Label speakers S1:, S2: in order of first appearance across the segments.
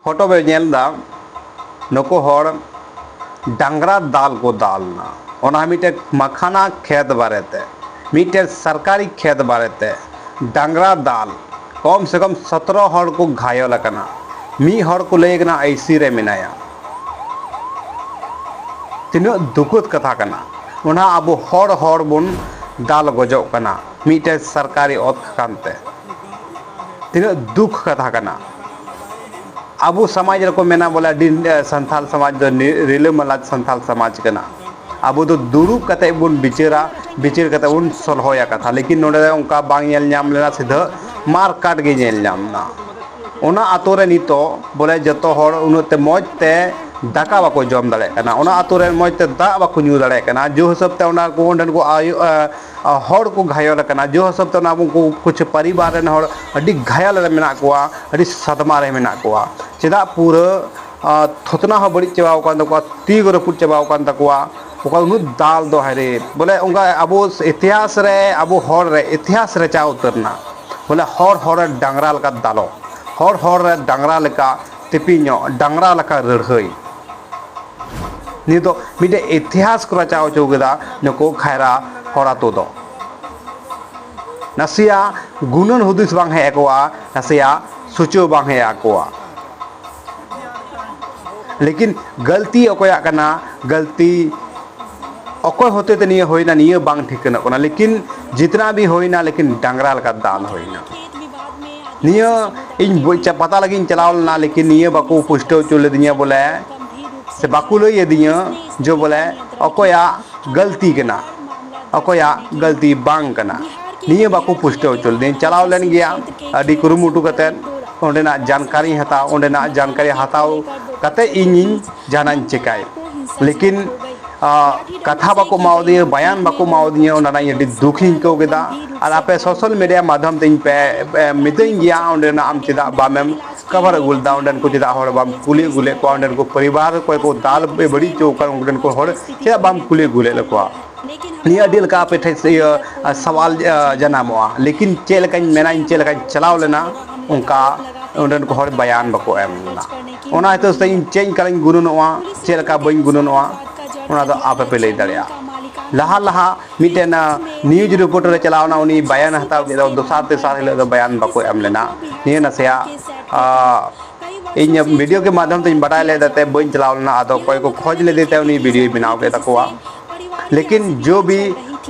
S1: Photo ᱵᱮᱱ ᱧᱮᱞ ᱮᱫᱟ ᱱᱩᱠᱩ ᱦᱚᱲ ᱰᱟᱝᱨᱟ ᱫᱟᱞ ᱠᱚ ᱫᱟᱞ ᱮᱱᱟ ᱚᱱᱟ ᱦᱚᱸ ᱢᱤᱫᱴᱮᱱ ᱢᱟᱠᱷᱟᱱᱟ ᱠᱷᱮᱛ ᱵᱟᱨᱮ ᱛᱮ ᱢᱤᱫᱴᱮᱱ ᱥᱚᱨᱠᱟᱨᱤ ᱠᱷᱮᱛ ᱵᱟᱨᱮ ᱛᱮ ᱰᱟᱝᱨᱟ ᱫᱟᱞ ᱠᱚᱢ ᱥᱮ ᱠᱚᱢ ᱥᱚᱛᱨᱚ ᱦᱚᱲ ᱠᱚ ᱜᱷᱟᱭᱚᱞ ᱟᱠᱟᱱᱟ ᱢᱤᱫ ᱦᱚᱲ ᱠᱚ ᱞᱟᱹᱭ ᱠᱟᱱᱟ ᱟᱭᱥᱤ ᱨᱮ ᱢᱮᱱᱟᱭᱟ ᱛᱤᱱᱟᱹᱜ ᱫᱩᱠᱩᱫ ᱠᱟᱛᱷᱟ ᱠᱟᱱᱟ ᱚᱱᱟ ᱟᱵᱚ ᱦᱚᱲ ᱦᱚᱲ ᱵᱚᱱ ᱫᱟᱞ ᱜᱚᱡᱚᱜ ᱠᱟᱱᱟ ᱢᱤᱫᱴᱮᱱ ᱥᱚᱨᱠᱟᱨᱤ ᱚᱛ ᱠᱟᱱᱛᱮ ᱛᱤᱱᱟᱹᱜ ᱫᱩᱠ ᱠᱟᱛᱷᱟ ᱠᱟᱱᱟ ᱟᱵᱚ ᱥᱚᱢᱟᱡᱽ ᱨᱮᱠᱚ ᱢᱮᱱᱟ ᱵᱚᱞᱮ ᱟᱹᱰᱤ ᱥᱟᱱᱛᱟᱞ ᱥᱚᱢᱟᱡᱽ ᱫᱚ ᱨᱤᱞᱟᱹᱢᱟᱞᱟ ᱥᱟᱱᱛᱟᱞ ᱥᱚᱢᱟᱡᱽ ᱠᱟᱱᱟ ᱟᱵᱚ ᱫᱚ ᱫᱩᱲᱩᱵ ᱠᱟᱛᱮ ᱵᱚᱱ ᱵᱤᱪᱟᱹᱨᱟ ᱵᱤᱪᱟᱹᱨ ᱠᱟᱛᱮ ᱵᱚᱱ ᱥᱚᱞᱦᱚᱭᱟ ᱠᱟᱛᱷᱟ ᱞᱮᱠᱤᱱ ᱱᱚᱰᱮ ᱫᱚ ᱚᱱᱠᱟ ᱵᱟᱝ ᱧᱮᱞ ᱧᱟᱢ ᱞᱮᱱᱟ ᱥᱤᱫᱷᱟᱹ ᱢᱟᱨ ᱠᱟᱴ ᱜᱮ ᱧᱮᱞ ᱧᱟᱢ ᱮᱱᱟ ᱚᱱᱟ ᱟᱛᱳ ᱨᱮ ᱱᱤᱛᱚᱜ ᱵᱚᱞᱮ ᱡᱚᱛᱚ ᱦᱚᱲ ᱩᱱᱟᱹᱜ ᱛᱮ ᱢᱚᱡᱽ ᱛᱮ ᱫᱟᱠᱟ ᱵᱟᱠᱚ ᱡᱚᱢ ᱫᱟᱲᱮᱭᱟᱜ ᱠᱟᱱᱟ ᱚᱱᱟ ᱟᱛᱳ ᱨᱮ ᱢᱚᱡᱽ ᱛᱮ ᱫᱟᱜ ᱵᱟᱠᱚ ᱧᱩ ᱫᱟᱲᱮᱭᱟᱜ ᱠᱟᱱᱟ ᱡᱮ ᱦᱤᱥᱟᱹᱵ ᱛᱮ ᱚᱸᱰᱮᱱ ᱠᱚ ᱟᱭᱳ ᱦᱚᱲ ᱠᱚ ᱜᱷᱟᱭᱚᱞ ᱟᱠᱟᱱᱟ ᱡᱳᱨ ᱦᱤᱥᱟᱹᱵ ᱛᱮ ᱚᱱᱟ ᱩᱱᱠᱩ ᱠᱩᱪᱷᱩ ᱯᱟᱨᱤᱵᱟᱨ ᱨᱮᱱ ᱦᱚᱲ ᱟᱹᱰᱤ ᱜᱷᱟᱭᱮᱞ ᱨᱮ ᱢᱮᱱᱟᱜ ᱠᱚᱣᱟ ᱟᱹᱰᱤ ᱥᱟᱫᱽᱢᱟ ᱨᱮ ᱢᱮᱱᱟᱜ ᱠᱚᱣᱟ ᱪᱮᱫᱟᱜ ᱯᱩᱨᱟᱹ ᱛᱷᱚᱛᱱᱟ ᱦᱚᱸ ᱵᱟᱹᱲᱤᱡ ᱪᱟᱵᱟᱣ ᱠᱟᱱ ᱛᱟᱠᱚᱣᱟ ᱛᱤ ᱠᱚ ᱨᱟᱹᱯᱩᱫ ᱪᱟᱵᱟᱣ ᱠᱟᱱ ᱛᱟᱠᱚᱣᱟ ᱚᱠᱟ ᱩᱱᱟᱹᱜ ᱫᱟᱞ ᱫᱚ ᱦᱟᱭᱨᱮ ᱵᱚᱞᱮ ᱚᱱᱠᱟ ᱟᱵᱚ ᱤᱛᱤᱦᱟᱥ ᱨᱮ ᱟᱵᱚ ᱦᱚᱲ ᱨᱮ ᱤᱛᱤᱦᱟᱥ ᱨᱮᱪᱟᱣ ᱩᱛᱟᱹᱨ ᱮᱱᱟ ᱵᱚᱞᱮ ᱦᱚᱲ ᱦᱚᱲ ᱨᱮ ᱰᱟᱝᱨᱟ ᱞᱮᱠᱟ ᱫᱟᱞᱚᱵ ᱦᱚᱲ ᱦᱚᱲ ᱨᱮ ᱰᱟᱝᱨᱟ ᱞᱮᱠᱟ ᱛᱮᱯᱤ ᱧᱚᱜ ᱰᱟᱝᱨᱟ ᱞᱮᱠᱟ ᱨᱟᱹᱲᱦᱟᱹᱭ᱾ ᱱᱤᱭᱟᱹ ᱫᱚ ᱢᱤᱫᱴᱮᱡ ᱤᱛᱤᱦᱟᱥ ᱠᱚ ᱨᱟᱪᱟᱣ ᱚᱪᱚ ᱠᱮᱫᱟ ᱱᱩᱠᱩ ᱠᱷᱟᱭᱨᱟ ᱦᱚᱲ ᱟᱹᱛᱩ ᱫᱚ᱾ ᱱᱟᱥᱮᱭᱟᱜ ᱜᱩᱱᱟᱹᱱ ᱦᱩᱫᱤᱥ ᱵᱟᱝ ᱦᱮᱡ ᱟᱠᱚᱣᱟ, ᱱᱟᱥᱮᱭᱟᱜ ᱥᱩᱪᱟᱹᱣ ᱵᱟᱝ ᱦᱮᱡ ᱟᱠᱚᱣᱟ᱾ ᱞᱮᱠᱤᱱ ᱜᱟᱹᱞᱛᱤ ᱚᱠᱚᱭᱟᱜ ᱠᱟᱱᱟ, ᱜᱟᱹᱞᱛᱤ ᱚᱠᱚᱭ ᱦᱚᱛᱮ ᱛᱮ ᱱᱤᱭᱟᱹ ᱦᱩᱭᱮᱱᱟ ᱱᱤᱭᱟᱹ ᱵᱟᱝ ᱴᱷᱤᱠᱟᱹᱱᱚᱜ ᱠᱟᱱᱟ᱾ ᱞᱮᱠᱤᱱ ᱡᱤᱛᱱᱟ ᱵᱷᱤ ᱦᱩᱭᱮᱱᱟ ᱞᱮᱠᱤᱱ ᱰᱟᱝᱨᱟ ᱞᱮᱠᱟ ᱫᱟᱞ ᱦᱩᱭᱮᱱᱟ᱾ ᱱᱤᱭᱟᱹ ᱤᱧ ᱯᱟᱛᱟ ᱞᱟᱹᱜᱤᱫ ᱤᱧ ᱪᱟᱞᱟᱣ ᱞᱮᱱᱟ ᱞᱮᱠᱤᱱ ᱱᱤᱭᱟᱹ ᱵᱟᱠᱚ ᱯᱩᱥᱴᱟᱹᱣ ᱦᱚᱪᱚ ᱞᱤᱫᱤᱧᱟ ᱵᱚᱞᱮ ᱥᱮ ᱵᱟᱠᱚ ᱞᱟᱹᱭ ᱟᱹᱫᱤᱧᱟ ᱡᱮ ᱵᱚᱞᱮ ᱚᱠᱚᱭᱟᱜ ᱜᱟᱹᱞᱛᱤ ᱠᱟᱱᱟ ᱚᱠᱚᱭᱟᱜ ᱜᱟᱹᱞᱛᱤ ᱵᱟᱝ ᱠᱟᱱᱟ ᱱᱤᱭᱟᱹ ᱵᱟᱠᱚ ᱯᱩᱥᱴᱟᱹᱣ ᱦᱚᱪᱚ ᱞᱤᱫᱤᱧ ᱪᱟᱞᱟᱣ ᱞᱮᱱ ᱜᱮᱭᱟ ᱟᱹᱰᱤ ᱠᱩᱨᱩᱢᱩᱴᱩ ᱠᱟᱛᱮᱫ ᱚᱸᱰᱮᱱᱟᱜ ᱡᱟᱱᱠᱟᱨᱤᱧ ᱦᱟᱛᱟᱣ ᱚᱸᱰᱮᱱᱟᱜ ᱡᱟᱱᱠᱟᱨᱤ ᱦᱟᱛᱟᱣ ᱠᱟᱛᱮᱫ ᱤᱧᱤᱧ ᱡᱟᱦᱟᱱᱟᱜ ᱤᱧ ᱪᱮᱠᱟᱭ ᱞᱮᱠᱤᱱ ᱠᱟᱛᱷᱟ ᱵᱟᱠᱚ ᱮᱢᱟᱣᱟᱫᱤᱧᱟ ᱵᱟᱭᱟᱱ ᱵᱟᱠᱚ ᱮᱢᱟᱣᱟᱫᱤᱧᱟ ᱚᱱᱟ ᱨᱮᱱᱟᱜ ᱤᱧ ᱟᱹᱰᱤ ᱫᱩᱠᱷᱤᱧ ᱟᱹᱭᱠᱟᱹᱣ ᱠᱮᱫᱟ ᱟᱨ ᱥᱮ ᱟᱯᱮ ᱵᱟᱝ ᱥᱳᱥᱟᱞ ᱢᱤᱰᱤᱭᱟ ᱢᱟᱫᱽᱫᱷᱚᱢ ᱛᱮ ᱤᱧ ᱯᱮ ᱚᱱᱠᱟ ᱜᱮ ᱯᱮ ᱠᱚᱨᱟᱣ ᱢᱤᱛᱟᱹᱧ ᱦᱩᱭᱩᱜᱼᱟ ᱜᱮᱭᱟ ᱡᱟᱦᱟᱸ ᱫᱚ ᱚᱸᱰᱮᱱᱟᱜ ᱟᱢ ᱟᱹᱰᱤ ᱪᱮᱫᱟᱜ ᱵᱟᱢ ᱮᱢ ᱠᱟᱵᱷᱟᱨ ᱟᱹᱜᱩ ᱞᱮᱫᱟ ᱚᱸᱰᱮᱱ ᱠᱚ ᱪᱮᱫᱟᱜ ᱦᱚᱲ ᱵᱟᱢ ᱠᱩᱞᱤ ᱟᱹᱜᱩ ᱞᱮᱫ ᱠᱚᱣᱟ ᱚᱸᱰᱮᱱ ᱠᱚ ᱯᱚᱨᱤᱵᱟᱨ ᱚᱠᱚᱭ ᱠᱚ ᱫᱟᱞ ᱯᱮ ᱵᱟᱹᱲᱤᱡ ᱦᱚᱪᱚ ᱟᱠᱟᱫ ᱩᱱᱠᱩ ᱴᱷᱮᱱ ᱠᱚ ᱦᱚᱲ ᱪᱮᱫᱟᱜ ᱵᱟᱢ ᱠᱩᱞᱤ ᱟᱹᱜᱩ ᱞᱮᱫ ᱠᱚᱣᱟ ᱱᱤᱭᱟᱹ ᱟᱹᱰᱤ ᱞᱮᱠᱟ ᱟᱯᱮ ᱴᱷᱮᱱ ᱤᱭᱟᱹ ᱥᱟᱣᱟᱞ ᱡᱟᱱᱟᱢᱚᱜᱼᱟ ᱞᱮᱠᱤᱱ ᱪᱮᱫ ᱞᱮᱠᱟᱧ ᱢᱮᱱᱟ ᱤᱧ ᱪᱮᱫ ᱞᱮᱠᱟᱧ ᱪᱟᱞᱟᱣ ᱞᱮᱱᱟ ᱚᱱᱠᱟ ᱚᱸᱰᱮᱱ ᱠᱚ ᱦᱚᱲ ᱵᱟᱭᱟᱱ ᱵᱟᱠᱚ ᱮᱢ ᱞᱮᱫᱟ ᱚᱱᱟ ᱦᱤᱥᱟᱹ ᱛᱮ ᱤᱧ ᱪᱮᱫ ᱤᱧ ᱠᱟᱱᱟᱧ ᱜᱩᱱᱟᱹᱱᱚᱜᱼᱟ ᱪᱮᱫ ᱞᱮᱠᱟ ᱵᱟᱹᱧ ᱜᱩᱱᱟᱹᱱᱚᱜᱼᱟ ᱚᱱᱟ ᱫᱚ ᱟᱯᱮᱯᱮ ᱞᱟᱹᱭ ᱫᱟᱲᱮᱭᱟᱜᱼᱟ ᱞᱟᱦᱟ ᱞᱟᱦᱟ ᱢᱤᱫᱴᱮᱱ ᱱᱤᱭᱩᱡᱽ ᱨᱤᱯᱳᱨᱴᱟᱨ ᱮ ᱪᱟᱞᱟᱣ ᱮᱱᱟ ᱩᱱᱤ ᱵᱟᱭᱟᱱ ᱦᱟᱛᱟᱣ ᱠᱮᱫᱟ ᱫᱚᱥᱟᱨ ᱛᱮᱥᱟᱨ ᱦᱤᱞᱳᱜ ᱫᱚ ᱵᱟᱭᱟᱱ ᱵᱟᱠᱚ ᱮᱢ ᱞᱮᱱᱟ ᱱᱤᱭᱟᱹ ᱱᱟᱥᱮᱭᱟᱜ ᱤᱧ ᱵᱷᱤᱰᱤᱭᱳ ᱜᱮ ᱢᱟᱫᱷᱚᱢ ᱛᱮᱧ ᱵᱟᱰᱟᱭ ᱞᱮᱫᱟ ᱛᱮ ᱵᱟᱹᱧ ᱪᱟᱞᱟᱣ ᱞᱮᱱᱟ ᱟᱫᱚ ᱚᱠᱚᱭ ᱠᱚ ᱠᱷᱚᱡᱽ ᱞᱮᱫᱮ ᱛᱮ ᱩᱱᱤ ᱵᱷᱤᱰᱤᱭᱳᱭ ᱵᱮᱱᱟᱣ ᱠᱮᱫ ᱛᱟᱠᱚᱣᱟ ᱞᱮᱠᱤᱱ ᱡᱚ ᱵᱤ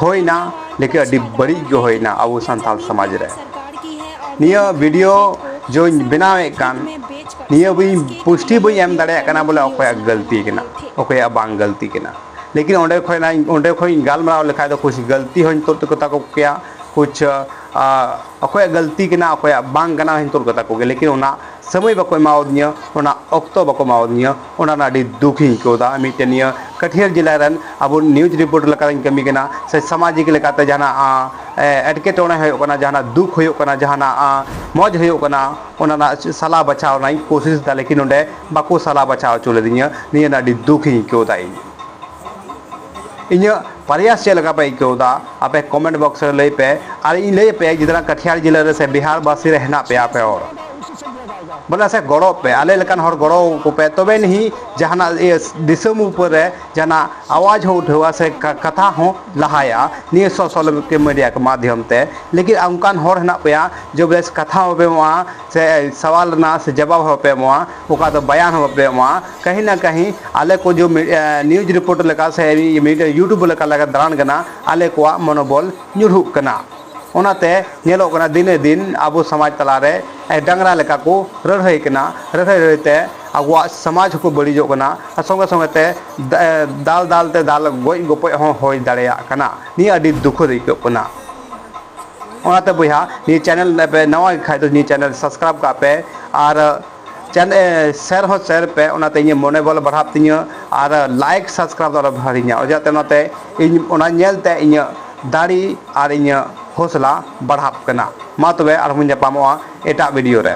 S1: ᱦᱩᱭᱱᱟ ᱞᱮᱠᱤᱱ ᱟᱹᱰᱤ ᱵᱟᱹᱲᱤᱡ ᱜᱮ ᱦᱩᱭᱱᱟ ᱟᱵᱚ ᱥᱟᱱᱛᱟᱲ ᱥᱚᱢᱟᱡᱽ ᱨᱮ ᱱᱤᱭᱟᱹ ᱵᱷᱤᱰᱤᱭᱳ ᱡᱚᱧ ᱵᱮᱱᱟᱣᱮᱫ ᱠᱟᱱ ᱱᱤᱭᱟᱹ ᱵᱟᱹᱧ ᱯᱩᱥᱴᱤ ᱵᱟᱹᱧ ᱮᱢ ᱫᱟᱲᱮᱭᱟᱜ ᱠᱟᱱᱟ ᱵᱚᱞᱮ ᱚᱠᱚᱭᱟᱜ ᱜᱟᱹᱞᱛᱤ ᱠᱟᱱᱟ ᱚᱠᱚᱭᱟᱜ ᱵᱟᱝ ᱜᱟᱹᱞᱛᱤ ᱠᱟᱱᱟ ᱞᱮᱠᱤᱱ ᱚᱸᱰᱮ ᱠᱷᱚᱱ ᱤᱧ ᱚᱸᱰᱮ ᱠᱷᱚᱱ ᱤᱧ ᱜᱟᱞᱢᱟᱨᱟᱣ ᱞᱮᱠᱷᱟᱡ ᱫᱚ ᱠᱩᱪ ᱜᱟᱹᱞᱛᱤ ᱦᱚᱸᱧ ᱛᱩᱫ ᱠᱟᱛᱟ ᱠᱚ ᱠᱮᱭᱟ ᱠᱩᱪ ᱚᱠᱚᱭᱟᱜ ᱜᱟᱹᱞᱛᱤ ᱠᱟᱱᱟ ᱚᱠᱚᱭᱟᱜ ᱵᱟᱝ ᱠᱟᱱᱟ ᱦᱚᱸᱧ ᱛᱩᱫ ᱠᱟᱛᱟ ᱠᱚᱜᱮᱭᱟ ᱞᱮᱠᱤᱱ ᱚᱱᱟ ᱥᱚᱢᱚᱭ ᱵᱟᱠᱚ ᱮᱢᱟᱣᱫᱤᱧᱟᱹ ᱚᱱᱟ ᱚᱠᱛᱚ ᱵᱟᱠᱚ ᱮᱢᱟᱣᱫᱤᱧᱟᱹ ᱚᱱᱟ ᱨᱮᱱᱟᱜ ᱟᱹᱰᱤ ᱫᱩᱠ ᱤᱧ ᱟᱹᱭᱠᱟᱹᱣᱫᱟ ᱢᱤᱫᱴᱮᱱ ᱱᱤᱭᱟᱹ ᱠᱟᱹᱴᱷᱤᱭᱟᱹᱲ ᱡᱮᱞᱟ ᱨᱮᱱ ᱟᱵᱚ ᱱᱤᱭᱩᱡᱽ ᱨᱤᱯᱳᱴᱟᱨ ᱞᱮᱠᱟᱛᱤᱧ ᱠᱟᱹᱢᱤ ᱠᱟᱱᱟ ᱥᱮ ᱥᱟᱢᱟᱡᱤᱠ ᱞᱮᱠᱟᱛᱮ ᱡᱟᱦᱟᱱᱟᱜ ᱮᱴᱠᱮᱴᱚᱬᱮ ᱦᱩᱭᱩᱜ ᱠᱟᱱᱟ ᱡᱟᱦᱟᱱᱟᱜ ᱫᱩᱠ ᱦᱩᱭᱩᱜ ᱠᱟᱱᱟ ᱡᱟᱦᱟᱱᱟᱜ ᱢᱚᱡᱽ ᱦᱩᱭᱩᱜ ᱠᱟᱱᱟ ᱚᱱᱟ ᱨᱮᱱᱟᱜ ᱥᱟᱞᱟ ᱵᱟᱪᱷᱟᱣ ᱨᱮᱱᱟᱜ ᱤᱧ ᱠᱳᱥᱤᱥᱫᱟ ᱞᱮᱠᱤᱱ ᱚᱸᱰᱮ ᱵᱟᱠᱚ ᱥᱟᱞᱟ ᱵᱟᱪᱷᱟᱣ ᱦᱚᱪᱚ ᱞᱮᱫᱤᱧᱟ ᱱᱤᱭᱟᱹ ᱨᱮᱱᱟᱜ ᱟᱹᱰᱤ ᱫᱩᱠ ᱤᱧ ᱟᱹᱭᱠᱟᱹᱣ ᱮᱫᱟ ᱤᱧ ᱤᱧᱟᱹᱜ ᱯᱨᱚᱭᱟᱥ ᱪᱮᱫ ᱞᱮᱠᱟ ᱯᱮ ᱟᱹᱭᱠᱟᱹᱣ ᱮᱫᱟ ᱟᱯᱮ ᱠᱚᱢᱮᱱᱴ ᱵᱚᱠᱥ ᱨᱮ ᱞᱟᱹᱭ ᱯᱮ ᱟᱨ ᱤᱧ ᱞᱟᱹᱭ ᱟᱯᱮᱭᱟ ᱡᱮᱫᱟᱱ ᱠᱟᱴᱷᱤᱭᱟᱲ ᱡᱮᱞᱟ ᱨᱮ ᱥᱮ ᱵᱤᱦᱟᱨ ᱵᱟᱥᱤ ᱨᱮ ᱦᱮᱱᱟᱜ ᱯᱮᱭᱟ ᱟᱯᱮ ᱦᱚᱲ ᱵᱚᱞᱮ ᱥᱮ ᱜᱚᱲᱚ ᱯᱮ ᱟᱞᱮ ᱞᱮᱠᱟᱱ ᱦᱚᱲ ᱜᱚᱲᱚ ᱟᱠᱚ ᱯᱮ ᱛᱚᱵᱮ ᱱᱤᱦᱤ ᱡᱟᱦᱟᱱᱟᱜ ᱫᱤᱥᱚᱢ ᱩᱯᱚᱨ ᱨᱮ ᱡᱟᱦᱟᱱᱟᱜ ᱟᱣᱟᱡᱽ ᱦᱚᱸ ᱩᱴᱷᱟᱹᱣᱟ ᱥᱮ ᱠᱟᱛᱷᱟ ᱦᱚᱸ ᱞᱟᱦᱟᱭᱟ ᱱᱤᱭᱟᱹ ᱥᱳᱥᱟᱞ ᱢᱤᱰᱤᱭᱟ ᱠᱚ ᱢᱟᱫᱷᱭᱚᱢ ᱛᱮ ᱞᱮᱠᱤᱱ ᱚᱱᱠᱟᱱ ᱦᱚᱲ ᱦᱮᱱᱟᱜ ᱯᱮᱭᱟ ᱡᱮ ᱵᱮᱥ ᱠᱟᱛᱷᱟ ᱦᱚᱸ ᱵᱟᱯᱮ ᱮᱢᱚᱜᱼᱟ ᱥᱮ ᱥᱟᱣᱟᱞ ᱨᱮᱱᱟᱜ ᱥᱮ ᱡᱟᱵᱟᱵ ᱦᱚᱸ ᱵᱟᱯᱮ ᱮᱢᱚᱜᱼᱟ ᱚᱠᱟ ᱫᱚ ᱵᱟᱭᱟᱱ ᱦᱚᱸ ᱵᱟᱯᱮ ᱮᱢᱚᱜᱼᱟ ᱠᱟᱹᱦᱤ ᱱᱟ ᱠᱟᱹᱦᱤ ᱟᱞᱮ ᱠᱚ ᱡᱚ ᱱᱤᱭᱩᱡᱽ ᱨᱤᱯᱳᱴᱟᱨ ᱞᱮᱠᱟ ᱥᱮ ᱢᱤᱰᱤᱭᱟ ᱤᱭᱩᱴᱩᱵᱽ ᱞᱮᱠᱟ ᱞᱮ ᱫᱟᱬᱟᱱ ᱠᱟᱱᱟ ᱟᱞᱮ ᱠᱚᱣᱟᱜ ᱢᱚᱱᱚᱵᱚᱞ ᱧᱩᱨᱦᱩᱜ ᱠᱟᱱᱟ ᱚᱱᱟᱛᱮ ᱧᱮᱞᱚᱜ ᱠᱟᱱᱟ ᱫᱤᱱᱮ ᱫᱤᱱ ᱟᱵᱚ ᱥᱚᱢᱟᱡᱽ ᱛᱟᱞᱟ ᱨᱮ ᱰᱟᱝᱨᱟ ᱞᱮᱠᱟ ᱠᱚ ᱞᱟᱹᱲᱦᱟᱹᱭ ᱠᱟᱱᱟ ᱞᱟᱹᱲᱦᱟᱹᱭ ᱞᱟᱹᱲᱦᱟᱹᱭ ᱛᱮ ᱟᱵᱚᱣᱟᱜ ᱥᱚᱢᱟᱡᱽ ᱦᱚᱸᱠᱚ ᱵᱟᱹᱲᱤᱡᱚᱜ ᱠᱟᱱᱟ ᱟᱨ ᱥᱚᱸᱜᱮ ᱥᱚᱸᱜᱮ ᱛᱮ ᱫᱟᱞ ᱫᱟᱞ ᱛᱮ ᱫᱟᱞ ᱜᱚᱡ ᱜᱚᱯᱚᱡ ᱦᱚᱸ ᱦᱩᱭ ᱫᱟᱲᱮᱭᱟᱜ ᱠᱟᱱᱟ ᱱᱤᱭᱟᱹ ᱟᱹᱰᱤ ᱫᱩᱠᱷᱚ ᱟᱹᱭᱠᱟᱹᱜ ᱠᱟᱱᱟ ᱚᱱᱟᱛᱮ ᱵᱚᱭᱦᱟ ᱱᱤᱭᱟᱹ ᱪᱮᱱᱮᱞ ᱱᱟᱣᱟ ᱜᱮ ᱠᱷᱟᱡ ᱫᱚ ᱱᱤᱭᱟᱹ ᱪᱮᱱᱮᱞ ᱥᱟᱵᱥᱠᱨᱟᱭᱤᱵᱽ ᱠᱟᱜ ᱯᱮ ᱟᱨ ᱪᱮᱱ ᱥᱮᱨ ᱦᱚᱸ ᱥᱮᱨ ᱯᱮ ᱚᱱᱟᱛᱮ ᱤᱧᱟᱹᱜ ᱢᱚᱱᱮ ᱵᱚᱞ ᱵᱟᱲᱦᱟᱜ ᱛᱤᱧᱟᱹ ᱟᱨ ᱞᱟᱭᱤᱠ ᱥᱟᱵᱥᱠᱨᱟᱭᱤᱵᱽ ᱫᱚ ᱟᱞᱚ ᱯᱮ ᱦᱤᱲᱤᱧᱟ ᱚᱡᱟᱛᱮ ᱚᱱᱟᱛᱮ ᱤᱧ ᱚᱱᱟ ᱧᱮᱞᱛᱮ ᱤᱧᱟᱹᱜ ᱫᱟᱲᱮ ᱟᱨ ᱤᱧᱟᱹᱜ ᱦᱚᱸᱥᱞᱟ ᱵᱟᱲᱦᱟᱜ ᱠᱟᱱᱟ ᱢᱟ ᱛᱚᱵᱮ ᱟᱨᱦᱚᱸ ᱵᱚᱱ ᱧᱟᱯᱟᱢᱚᱜᱼᱟ ᱮᱴᱟᱜ ᱵᱷᱤᱰᱭᱳ ᱨᱮ